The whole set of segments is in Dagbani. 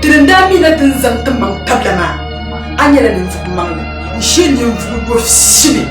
Dini n daa mihina ti ni zaŋ ti maŋ tabila maa, a nyɛla ninvuɣ maŋli n-shee ninvuɣ yɔfisili.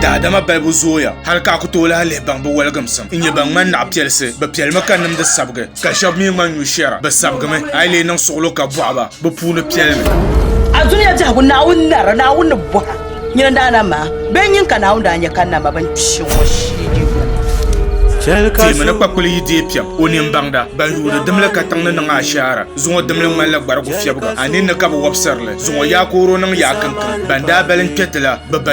Daadama balibu zooya hal ka a ku tooi lahi lihi baŋ bɛ wɔligimsim n-nyɛ ban ŋmani naɣ piɛlisi. Bɛ piɛlimi ka nimdi sabigi. Ka shɛb mi ŋma nyu shɛra, bɛ sabigimi, a yi lee niŋ suɣilo ka bɔhi ba, bɛ puuni piɛlimi. A zuliya biɛhigu Naawuni nara, Naawuni ni bɔha nyini n daa nam maa, bɛ nyin ka Naawuni daa nya ka n nam ma bɛn kpi ŋɔ shee di yuli. Teemi ni kpakpuli yi deei piɛm o nini baŋda, ban yuuni dimli katiŋ ni niŋ ashaara. Zuŋɔ dimli ŋmanila gbarigu fiɛbiga, a ninni ka bi wɔbisiri li. Zuŋɔ yaakooro niŋ yaakiŋkiŋ, ban daa bali n-kpe ti la, bɛ ba.